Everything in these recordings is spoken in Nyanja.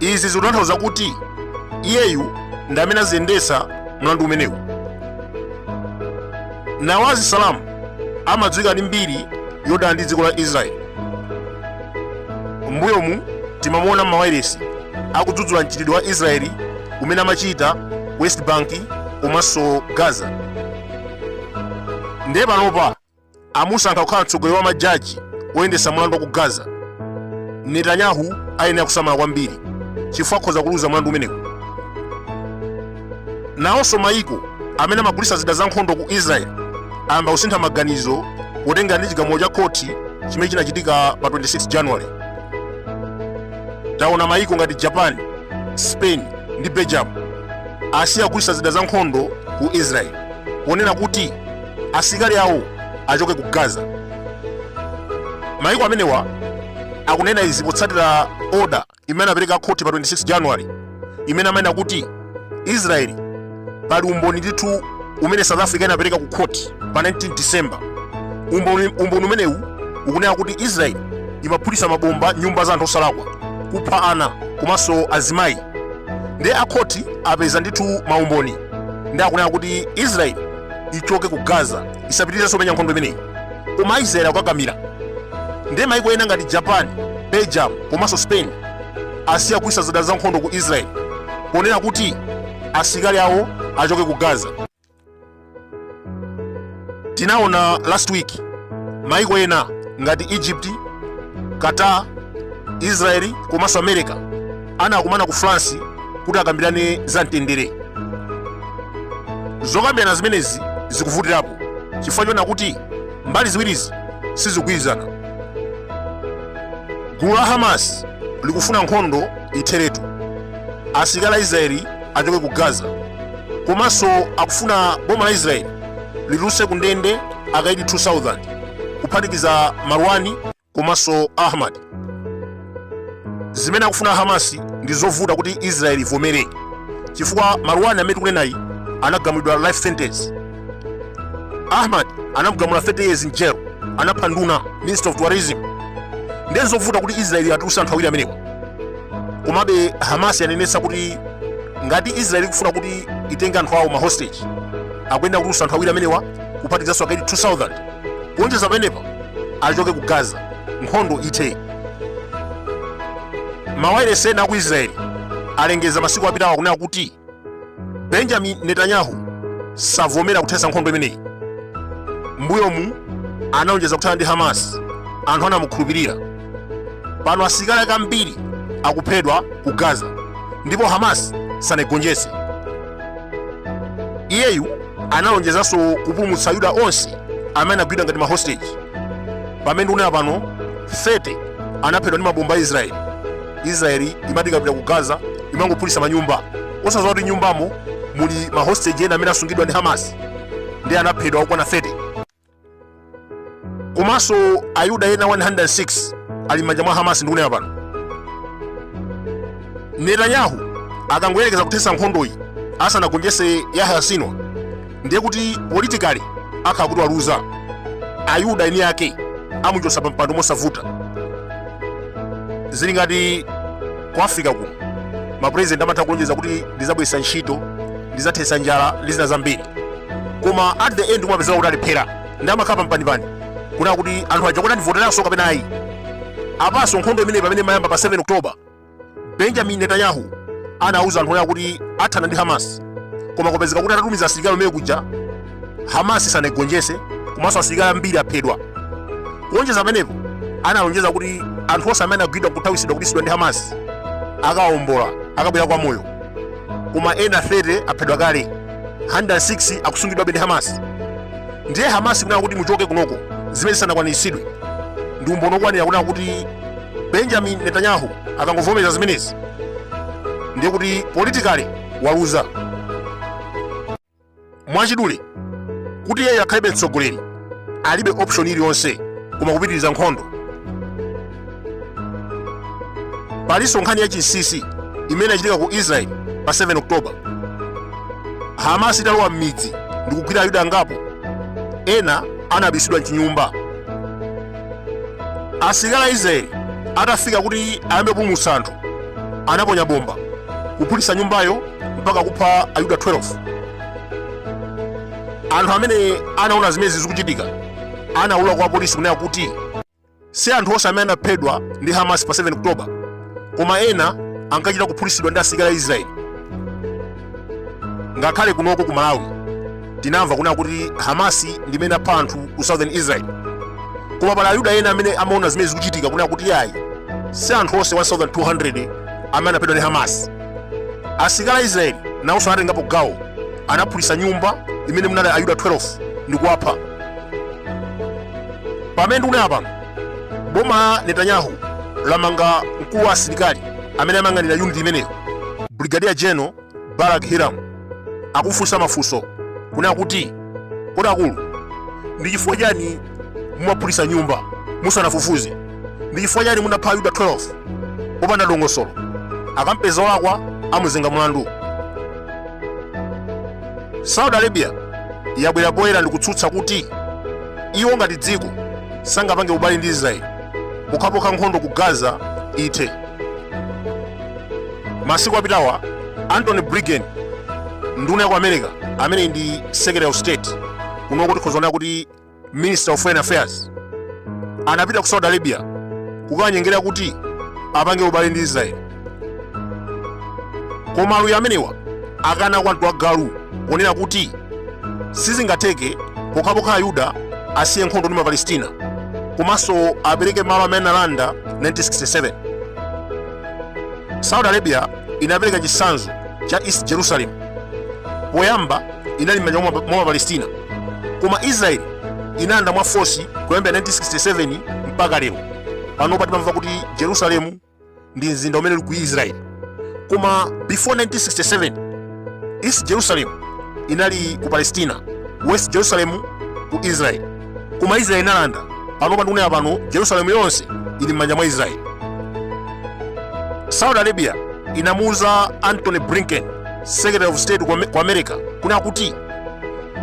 izi zikutanthauza kuti iyeyu ndi amene aziyendetsa mlandu umenewu nawaf salam amadziwika ndi mbiri yodana ndi dziko la israeli m'mbuyomu timamuona m'mawailesi akudzudzula mchitidwe wa israeli umene amachita west bank komanso gaza ndiye panopa amusankha kukhala mtsogoleri wa majaji oyendetsa mlandu wa ku gaza netanyahu ayenera kusamala kwambiri chifukwa akhoza kuluza mlandu umenewu nawonso mayiko amene amagulitsa zida zankhondo ku israel ayamba kusintha maganizo potengera ndi chigamulo cha khoti chimene chinachitika pa 26 january taona mayiko ngati japan spain ndi belgium asiya kugulitsa zida zankhondo ku israel ponena kuti asilikali awo achoke ku gaza mayiko amenewa akunena izi potsatira oda imene anapereka akhoti pa 26 january imene amanena kuti israeli pali umboni ndithu umene south africa inapereka ku khoti pa 19 december umboni umenewu ukunena kuti israeli imaphulitsa mabomba nyumba za anthu osalakwa kupha ana komanso azimayi ndiye akhoti apeza ndithu maumboni ndiye akunena kuti israeli ichoke ku gaza isapitirizenso kumenya nkhondo imeneyi koma aisraeli akukakamira ndiye maiko ena ngati japan belgium komanso spain asiya kugulitsa zida za nkhondo ku israeli ponena kuti asilikali awo achoke ku gaza tinaona last week maiko ena ngati egypt qatar israeli komanso america anakumana ku france kuti akambirane za mtendere zokambirana zimenezi zikuvutirapo chifukwa choona kuti mbali ziwirizi sizikugwirizana gulu la hamas likufuna nkhondo itheretu asilikali a israeli achoke ku gaza komanso akufuna boma la israeli litulutse ku ndende akaidi 2000 kuphatikiza marwani komanso Ahmad. Zimene akufuna Hamasi ndi zovuta kuti Israel ivomere chifukwa Marwan amene tikunenayi anagamulidwa life sentence. Ahmad anamugamula 30 years in jail, anapha nduna minister of tourism. Ndiye ndi zovuta kuti Israel atulutse anthu awiri amenewa. Komabe Hamasi yanenetsa kuti ngati Israel ikufuna kuti itenge anthu awo ma hostage akuyenera kutulutsa anthu awiri amenewa kuphatikizanso akaidi 2000 kuonjeza pamenepa achoke ku gaza nkhondo ithe mawailesi ena aku israeli alengeza masiku apitawa kunena kuti benjamin netanyahu savomera kuthetsa nkhondo imeneyi mbuyomu anaonjeza kuthana ndi hamas anthu anamukhulupirira pano asilikali ake ambiri akuphedwa ku gaza ndipo hamas sanaigonjetse iyeyu analonjezanso kupulumutsa ayuda onse amene anagwidwa ngati mahostage pamene ndikunena pano 30 anaphedwa ndi mabomba a israeli israeli imati ikapita ku gaza imangophulitsa manyumba osadziwa kuti nyumbamo muli mahostage ena amene asungidwa ndi hamas ndiye anaphedwa okwana 30 komanso ayuda ena 106 ali m'manja mwa hamasi ndikunena pano netanyahu akangoyerekeza kuthetsa nkhondoyi asanagonjetse yahya sinwar ndiye kuti politically akhala kuti waluza ayuda eni ake amuchotsa pa mpando mosavuta zili ngati ku africa kuno mapurezidenti amatha kulonjeza kuti ndizabweretsa ntchito ndizathetsa njala ndi zina zambiri koma at the end kumapezeka kuti alephera ndi amakhala pampanipani kunena kuti anthu aja kuti andivoteranso kapena ayi apanso nkhondo imeneyi pamene imayamba pa 7 oktoba benjamin netanyahu anauza anthu kunena kuti athana ndi hamas koma kupezeka kuti atatumiza asilikali omwe kuja hamas sanaigonjese komanso asilikali ambiri aphedwa kuonjeza pamenepo analonjeza kuti anthu onse amene anagwidwa nkuthawisidwa kubisidwa ndi hamas akawombola akabwera kwa moyo koma ena 30 aphedwa kale 106 akusungidwabe ndi hamas ndiye hamas ikunena kuti muchoke kunoko zimene zisanakwaniritsidwe ndi umboni okwanira kunena kuti benjamin netanyahu akangovomereza zimenezi ndiye kuti politically waluza mwachidule kuti iyeyo akhalebe mtsogoleri alibe option iliyonse koma kupitiriza nkhondo palinso nkhani ya chinsisi imene inachitika ku israel pa 7 oktoba hamas italowa m'midzi ndi kugwira ayuda angapo ena anabisidwa mchinyumba asilikali a israeli atafika kuti ayambe kupulumutsa anthu anaponya bomba kuphulitsa nyumbayo mpaka kupha ayuda 12 anthu amene anaona zimenezi zikuchitika anaulula kwa polisi kunena kuti si anthu onse amene anaphedwa ndi hamas pa 7 oktoba koma ena ankachita kuphulitsidwa ndi asilikali a israeli ngakhale kunoko ku malawi tinamva kunena kuti hamasi ndi imene idapha anthu ku southern israel koma pali ayuda ena amene amaona zimene zikuchitika kunena kuti yayi si anthu onse 1200 amene anaphedwa ndi hamasi asilikali a israeli nawonso anatengapo gawo anaphulitsa nyumba imene munali ayuda 12 ndi kuwapha pamene ndikunena pano boma la netanyahu lamanga mkulu wa asilikali amene amayang'anira unit imeneyo brigadier general barak hiram akumufunsa mafunso kunena kuti kodi akulu ndi chifukwa chani mumaphulitsa nyumba musanafufuze ndi chifukwa chani munapha ayuda 12 popanda dongosolo akampeza olakwa amuzenga mlandu saudi arabia yabwera poyera ndi kutsutsa kuti iwo ngati dziko sangapange ubale ndi israeli pokhapokha nkhondo ku gaza ithe masiku apitawa anthony blinken nduna ya ku america amene ndi secretary of state kunoko tikhoza kunena kuti minister of foreign affairs anapita ku saudi arabia kukanyengerera kuti apange ubale ndi israeli koma aluya amenewa akana kwa mtu wa galu ponena kuti sizingatheke pokhapokha ayuda asiye nkhondo ndi mapalestina komanso apereke malo amene analanda 1967 saudi arabia inapereka chitsanzo cha east jerusalem poyamba inali m'manja mwa mapalestina koma israel inalanda mwa force kuyambira 1967 mpaka lero panopa timamva kuti jerusalemu ndi mzinda umene uli ku israel koma before 1967 east jerusalem inali ku palestina west jerusalem ku israel koma israel inalanda panopa ndikunena pano jerusalemu yonse ili m'manja mwa israel saudi arabia inamuuza anthony blinken secretary of state ku Ame- ku america kunena kuti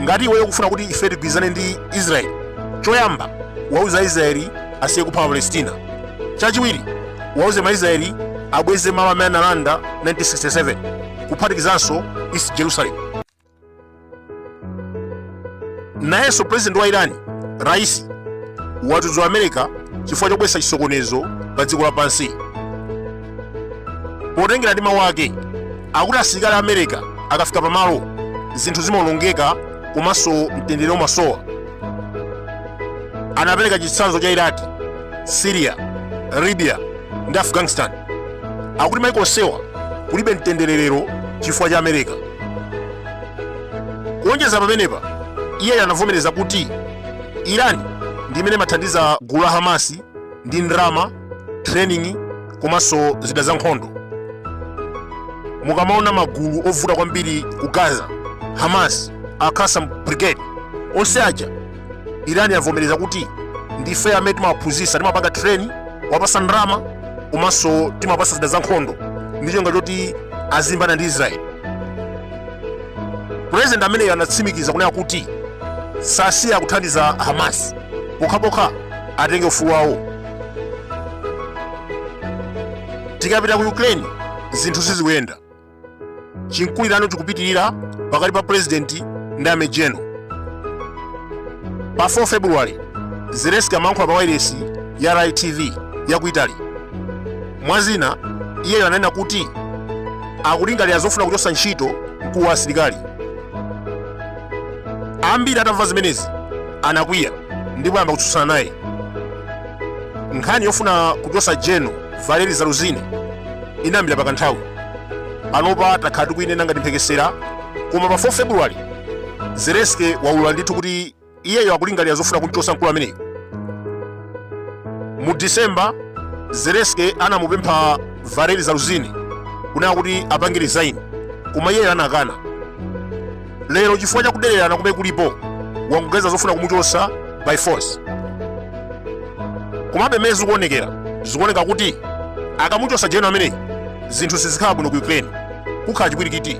ngati iweyo ukufuna kuti ife tigwirizane ndi israeli choyamba wauze aisraeli asiye kupha mapalestina chachiwiri wauze maisraeli abweze malo amene analanda 1967 kuphatikizanso east jerusalem nayenso president wa irani raisi wadzudzula america chifukwa chobweretsa chisokonezo pa dziko lapansi potengera ndi mawu ake akuti asilikali a america akafika pamalo zinthu zimaonongeka komanso mtendere umasowa anapereka chitsanzo cha iraki syria libya ndi afghanistan akuti maiko onsewa kulibe mtendere lero chifukwa cha america kuonjeza pamenepa iyeyo anavomereza kuti irani ndi imene imathandiza gulu la hamasi ndi ndalama training komanso zida za nkhondo mukamaona magulu ovuta kwambiri ku gaza hamas al kasam brigade onse aja irani yavomereza kuti ndife amene timawaphunzitsa timapanga training kuwapatsa ndalama komanso timawapatsa zida za nkhondo ndi cholinga choti azilimbana ndi israeli purezidenti ameneyo anatsimikiza kunena kuti sasiya kuthandiza hamas pokhapokha atenge ufulu wawo tikapita ku ukraine zinthu sizikuyenda chimkulirano chikupitirira pakati pa purezidenti ndi amejeno pa 4 february zelenski amayankhula pa wailesi ya rai tv ya ku italy mwa zina iyeyo ananena kuti akulingalira zofuna kuchotsa ntchito mkulu wa asilikali ambiri atamva zimenezi anakwiya ndipo ayamba kutsutsana naye nkhani yofuna kuchotsa jeno valeri zaluzine inayambira pakanthawi panopa takhala tikuyinena ngati mphekesera koma pa 4 februwali zelenski waulula ndithu kuti iyeyo akulingalira zofuna kumchotsa mkulu ameneyu mu disemba zelenski anamupempha valeri zaluzine kunena kuti apange resign koma iyeyo anakana lero chifukwa cha kudererana kumene kulipo wangoganiza zofuna kumuchotsa by force komabe mmene zikuonekera zikuoneka kuti akamuchotsa jeno ameneyi zinthu sizikhala bwino ku ukraine kukhala chipwirikiti